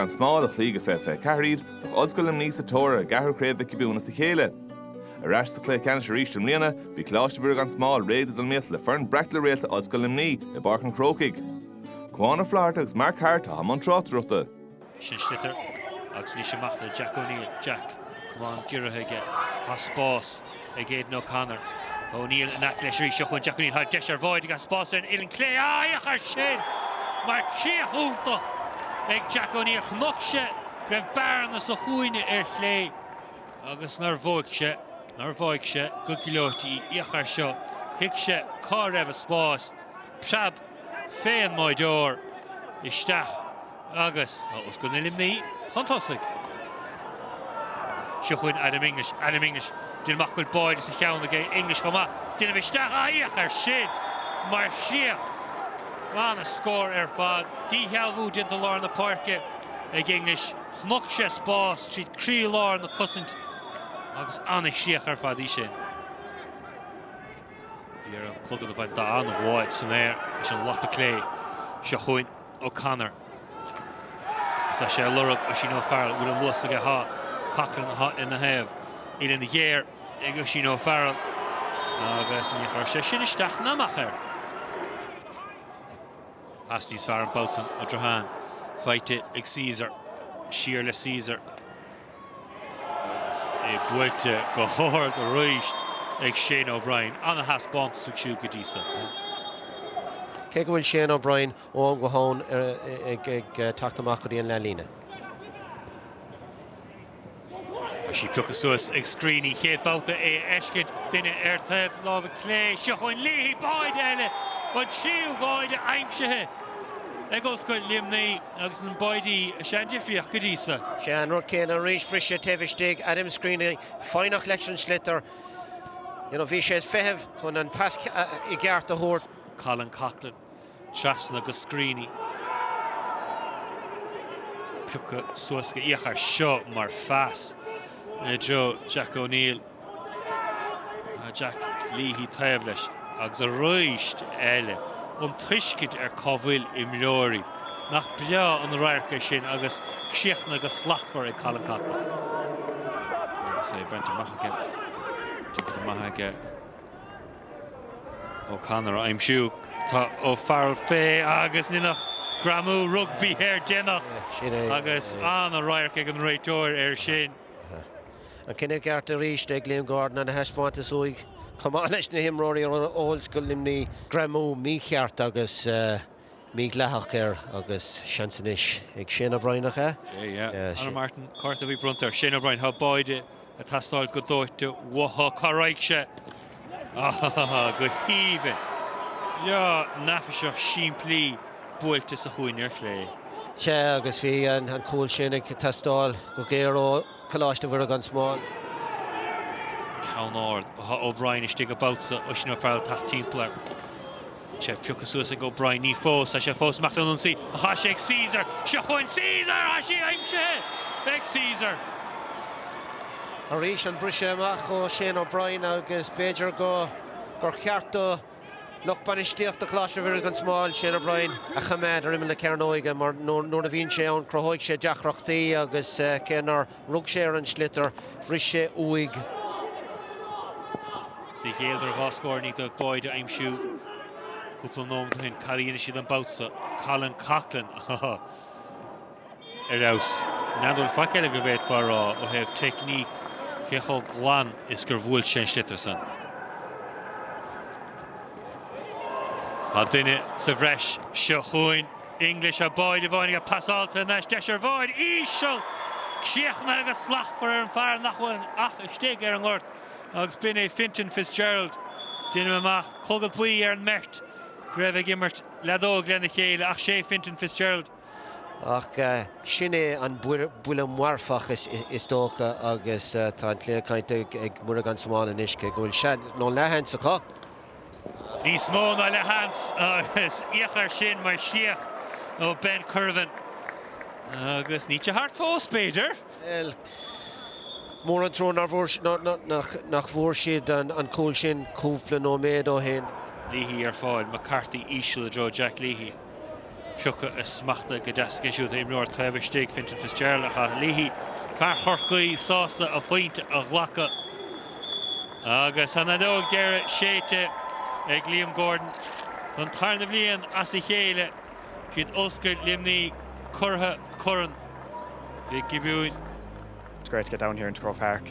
Gan Smál a chloígh i 2024 iad, bheadh Ollscoil Luimnigh sa tóir ar a gceathrú craobh Mhic Giobúin as a chéile. Ar ais sa chluiche ceannais arís i mbliana, bhí Coláiste Mhuire gan Smál réidh le dul in iomaíocht le foireann breac le réalta Ollscoil Luimnigh i bPáirc an Chrócaigh. Cuán Ó Flatharta agus Mark Harte atá i mbun tráchtaireachta. Sin sliotar agus arís amach le Jack O'Neill. Jack, camán giorraithe aige, tá spás. ag Aidan O'Connor. O'Neill in aice leis arís seo chugainn Jack O'Neill tá deis ar bháide agus spás ar an uillinn chlé féach air sin mar chríoch iontach ag Jack O'Neill, chonaic sé go raibh bearna sa chúinne ar chlé agus nár bhuaigh sé, nár bháigh sé go gleoite í. Féach air seo, thuig sé cá raibh an spás, preab. fén mbáideoir isteach agus Ollscoil Luimnigh chun tosaigh. Seo chugainn Adam English. Adam English, déan amach go bhfuil báide sa cheann aige. English chomh maith, déanamh isteach féach air sin mar chríoch. Ana scór ar fad. Díshealbhú déanta lár na páirce ag English. Chonaic sé spás tríd croílár na cosaint agus ana chríoch ar fad í sin. Bhí air an clogad a bhaint de an-ghuais san aer leis an lapa clé. Seo chugainn O'Connor. Is tá sé ag lorg Oisín O'Farrell. Bhfuil an luas aige? Tá. Coughlan atá ina thaobh. Uillinn ghéar ag Oisín O'Farrell agus níor chuir sé sin isteach ná amach air. Pas níos fearr an babhta san ó Drohan, faighte ag Caesar. Siar le Caesar. Agus é buailte go h-ard arís ag Shane O'Brien, an-thaispeántas aige siúd go dtí seo. Cé go bhfuil Shane O'Brien ó am go ham ag teacht amach go dtí an leath líne. Beidh sí pioctha suas ag Screeney, chéad babhta é a fheiscint, duine ar taobh láimhe clé. Seo chugainn Leahy báide eile, an tríú bháide aimsithe ag Ollscoil Luimnigh. Agus na báidí is ea an difríocht go dtí seo. Sé an rud céanna arís briseadh taobh istigh Adam Screeney foighneach leis an sliotar you know bhí sé ag feitheamh chun an pas i gceart a thabhairt. Colin Coughlan trasna go Screeney. Pioctha suas, féach air seo mar phas i dtreo Jack O'Neill. Jack Leahy taobh leis agus arís eile an tuiscint ar cá bhfuil imreoirí. Nach breá an radharc é sin agus críochnaithe go slachtmhar ag Colin Coughlan. Agus é bainte amach aige, déanta go maith aige O'Connor a aimsiú. Tá O'Farrell fé agus Lynagh greamú rugbaí air déanach agus an-radharc ag an réiteoir air sin. An cinneadh ceart arís ag Liam Gordon an-thaispeántas uaidh chomh maith leis na himreoirí ó Ollscoil Luimnigh. Greamú mícheart agus mídhleathach air agus seans anois ag Shane O'Brien, nach ea? Conor Martin, cárta buí bronnta ar Shane O'Brien. Tá báide ag teastáil go dóite uathu. Cá raghaidh sé? Go haoibhinn. Breá neafaiseach simplí buailte sa chúinne ar chlé. Sea agus bhí an cúl sin ag teastáil go géar ó. Coláiste Mhuire gan Smál. Ceann ard. Tá O'Brien istigh an babhta so ansin O'Farrell ag teacht timpeall air. Tá sé pioctha suas ag O'Brien. Ní fós. Tá sé fós amach chun an ionsaí. Á tá sé ag Caesar. Seo chugainn Caesar! Tá sí aimsithe ag Caesar. Arís an briseadh amach ó Shane O'Brien agus b'fhéidir go gur cheart do. lucht bainistíochta Choláiste Mhuire gan Smál, Shane O'Brien, a choimeád ar imeall na cearnóige mar nuair a bhíonn sé ann cruthóidh sé deacrachtaí agus cé nár rug sé ar an sliotar, bhris sé uaidh. D'éirigh leo ar dhá scór nó dhó báide a aimsiú cúpla nóimeat ó shin. Cad a dhéanfaidh siad an babhta so? Colin Coughlan! ar fheabhas. Níl a dhath faic eile go bhféadfá a rá ó thaobh teicníc cé chomh glan is gur bhuail sé an sliotar san. Tá duine sa bhreis seo chugainn. English an báide bainte aige. Pasáilte anois. Deis ar bháide. Íseal! Críochnaithe go slachtmhar ag an bhfear nach bhfuil ach istigh ar an ngort agus b'in é Fintan Fitzgerald. Deinim amach, clogad buí ar an mbeirt go raibh ag imirt leadóige lena chéile, ach 'sé Fintan Fitzgerald, Ach sin é an buille marfach is dócha agus tá an cluiche caillte ag Muire gan Smál anois cé go bhfuil seans nó leathsheans acu. Níos mó ná leathsheans agus íochair sin mar chríoch ó Ben Currivan agus níl sé thart fós b'fhéidir. Bhuel, is mór an trua nach bhfuair siad an cúl sin cúpla nóiméad ó shin. Leahy ar fáil, McCarthy íseal i dtreo Jack Leahy. Pioctha is smachtaithe go deas aige siúd, tá imreoir taobh istigh, Fintan Fitzgerald, McCarthy Leahy. Fear Chorcaí sásta a phointe a ghlacadh. Agus an fheadóg deireadh séidte ag Liam Gordon. Don tarna bhliain as a chéile, is iad Ollscoil Luimnigh curaidh Chorn Mhic Giobúin. It's great to get down here into Croke Park.